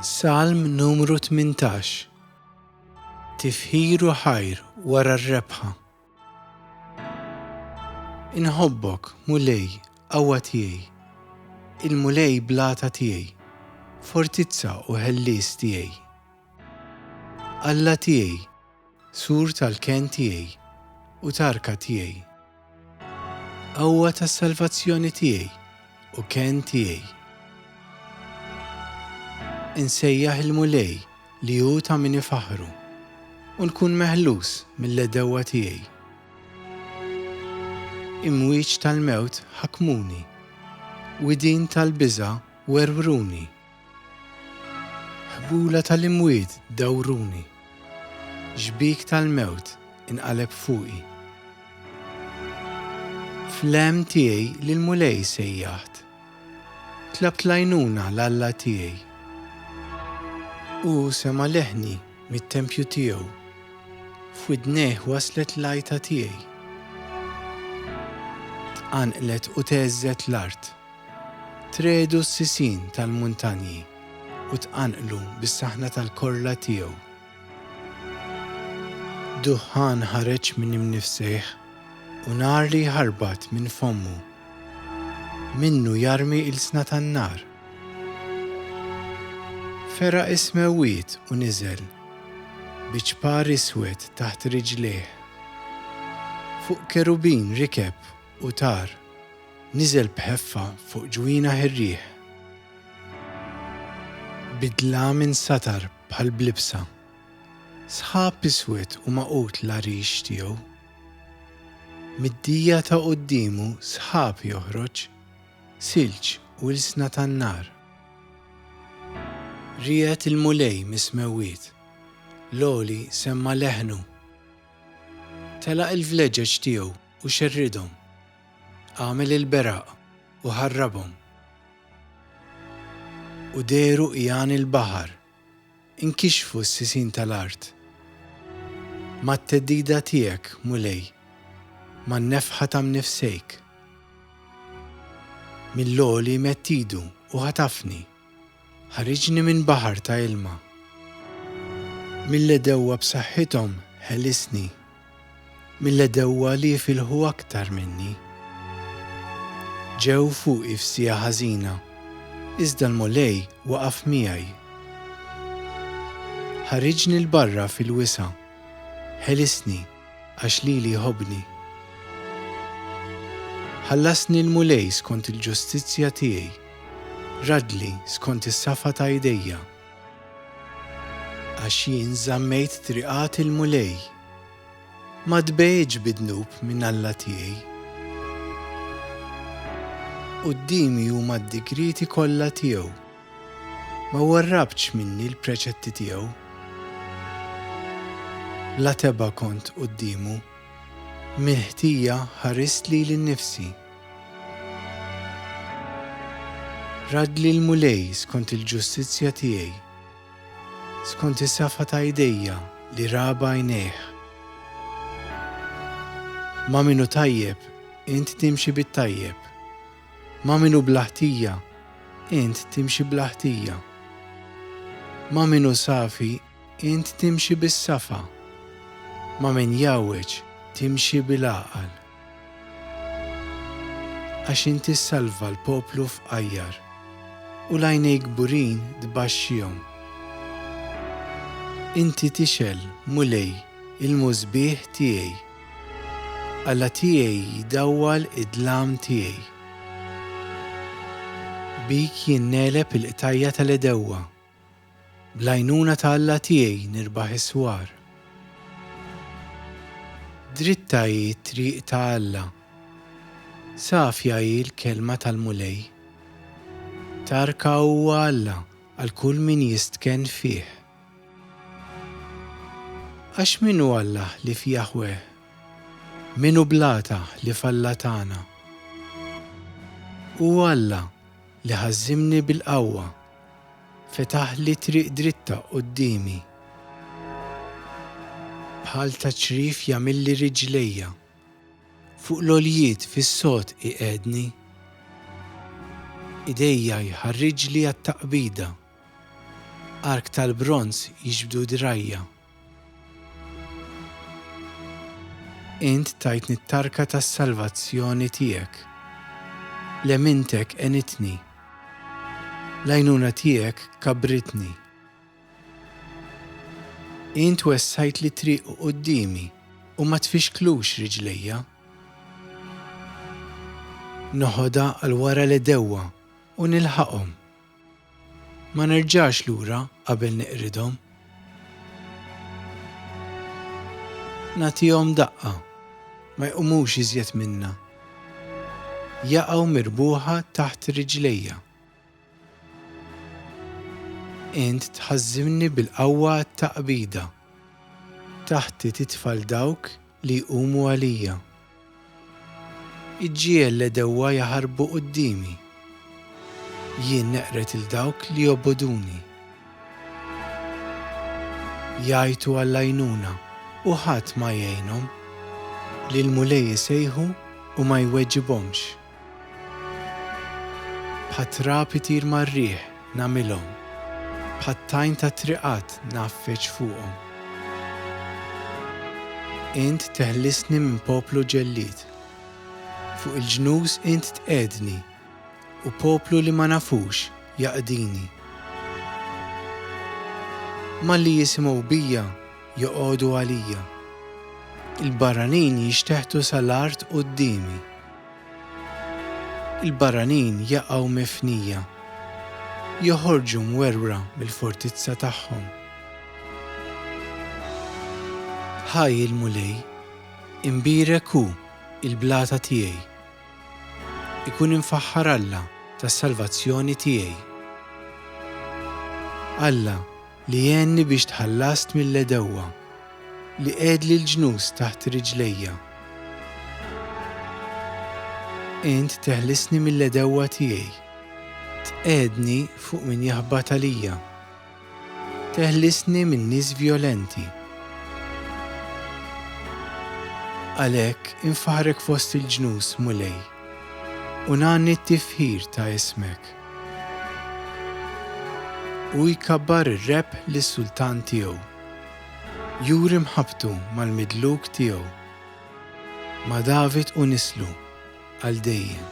Salm numru 18 Tifħiru ħajr wara r-rebħa. Inħobbok, Mulej, qawwa tiegħi, il-Mulej blata tiegħi, fortizza u ħellies tiegħi. Alla tiegħi, Sur tal-kenn tiegħi u tarka tiegħi. Qawwa tas-salvazzjoni tiegħi u kenn tiegħi. Insejjaħ il-Mulej li hu ta' min ifaħħru, u nkun meħlus mill-għedewwa tiegħi. Imwieġ tal-mewt ħakmuni, widien tal-biża' werwruni. Ħbula tal-imwiet dawruni, xbik tal-mewt inqaleb fuqi. Fl-hemm tiegħi lill-Mulej sejjaħt, tlabt l-għajnuna l-Alla tiegħi. Hu sema' leħni mit-tempju tiegħu, f'widnejh waslet l-għajta tiegħi. Tqanqlet u theżżet l-art. Tregħdu s-sisin tal-muntanji u tqanqlu bis-saħna tal-korla tiegħu. Duħħan ħareġ minn imnifsejh u nar li jħarbat minn fommu. Minnu jarmi ilsna tan-nar. Feraq is-smewwiet u niżel, bi ċpar iswed taħt riġlejh. Fuq kerubin rikeb u tar. Niżel b'ħeffa fuq ġwienaħ ir-riħ. Bid-dlam insatar bħal b'libsa. Sħab iswed u magħqud l-għarix tiegħu. Mid-dija ta' quddiemu sħab joħroġ, silġ u ilsna tan-nar. Riegħed il-Mulej mis-smewwiet. L-Għoli semma' leħnu. Telaq il-vleġeġ tiegħu u xerridhom. Għamel il-beraq u ħarrabhom. U dehru għian il-baħar. Inkixfu s-sisin tal-art. Mat-theddida tiegħek, Mulej, man-nefħa ta' mnifsejk. Mill-għoli medd idu u ħatafni. Ħariġni minn baħar ta' ilma. Mill-għedewwa b'saħħithom ħelisni, mill-għedewwa li jifilħu aktar minni. Ġew fuqi f'siegħa ħażina, iżda l-Mulej waqaf miegħi. Ħariġni 'l barra fil-wisa', ħelisni. Għax lili jħobbni. Ħallasni l-Mulej skont il-ġustizzja tiegħi, raddli skont is-safa ta' idejja. Għax jien żammejt triqat il-Mulej, ma tbegħidx bi dnub minn Alla tiegħi. Quddiemi huma d-digrieti kollha tiegħu. Ma warrabtx minni l-preċetti tiegħu. Bla tebgħa kont quddiemu, mill-ħtija ħarist lili nnifsi. Radli l-Mulej skont il-ġustizzja tiegħi, skont is-safa ta' idejja li raba għajnejh. Ma' min hu tajjeb, int timxi bit-tajjeb, Ma' min hu bla ħtija, int timxi bla ħtija. Ma' min hu safi, int timxi bis-safa. Ma' min jgħawweġ, timxi bil-għaqal. Għax int issalva l-poplu fqajjar, u l-għajnejk kburin tbaxxihom. Inti tixgħel, Mulej, il-musbieħ tiegħi. Alla tiegħi jdawwal id-dlam tiegħi. Bik jien negħleb il-qtajja' tal-għedewwa. Bl-għajnuna ta' Alla tiegħi nirbaħ is-swar. Dritta hi t-triq ta' Alla. Safja hi l-kelma tal-Mulej. Tarka huwa Alla għal kull min jistkenn fih. Għax min hu Alla ħlief Jaħweh? Min hu blata ħlief Alla tagħna? Hu Alla li ħażżimni bil-qawwa, fetaħli triq dritta quddiemi. Bħal ta' ċrif jagħmilli riġlejja, fuq l-għoljiet fis-sod iqegħedni. Idejja jħarriġli għat-taqbida. Ark tal-bronż jiġbdu drajja. Int tajtni t-tarka tas-salvazzjoni tiegħek. L-emintek għenitni. L-għajnuna tiegħek kabbritni. Int wessajt li triq u qudiemi u ma tfixklux riġlejja. Noħodha għal wara l-edewwa u nilħaqhom. Ma nerġax lura qabel niqridhom. Nagħtihom daqqa, ma jqumux iżjed minnha. Jaqgħu mirbuħa taħt riġlejja. Int tħażżimni bil-qawwa għat-taqbida. Taħti titfa' 'l dawk li jqumu għalija. Iġġiegħel l-għedewwa jaħarbu quddiemi. Jien neqred 'il dawk li jobogħduni. Jgħajtu għall-għajnuna u ħadd ma jgħinhom. Lill-Mulej isejħu u ma jweġibhomx. Bħat-trab itir mar-riħ nagħmilhom, bħat-tajn tat-triqat ngħaffeġ fuqhom. Int teħlisni minn poplu ġellied, fuq il-ġnus int tqegħedni, u poplu li ma nafux jaqdini. Malli jisimgħu bija joqogħdu għalija, il-barranin jixteħtu sal-art quddiemi. Il-barranin jaqgħu mifnija. Joħorġu mwerwra mill-fortizza tagħhom. Ħaj il-Mulej! Imbierek hu, il-blata tiegħi! Ikun imfaħħar Alla tas-salvazzjoni tiegħi! Alla li għenni biex tħallast mill-għedewwa, li qegħedli l-ġnus taħt riġlejja. Int teħlisni mill-għedewwa tiegħi, tqegħedni fuq min jaħbat għalija, teħlisni minn nies vjolenti. Għalhekk infaħħrek fost il-ġnus, Mulej. U ngħanni t-tifħir ta' ismek. U jkabbar ir-rebħ lis-sultan tiegħu. Juri mħabbtu mal-midluk tiegħu, ma' David u nislu, għal dejjem.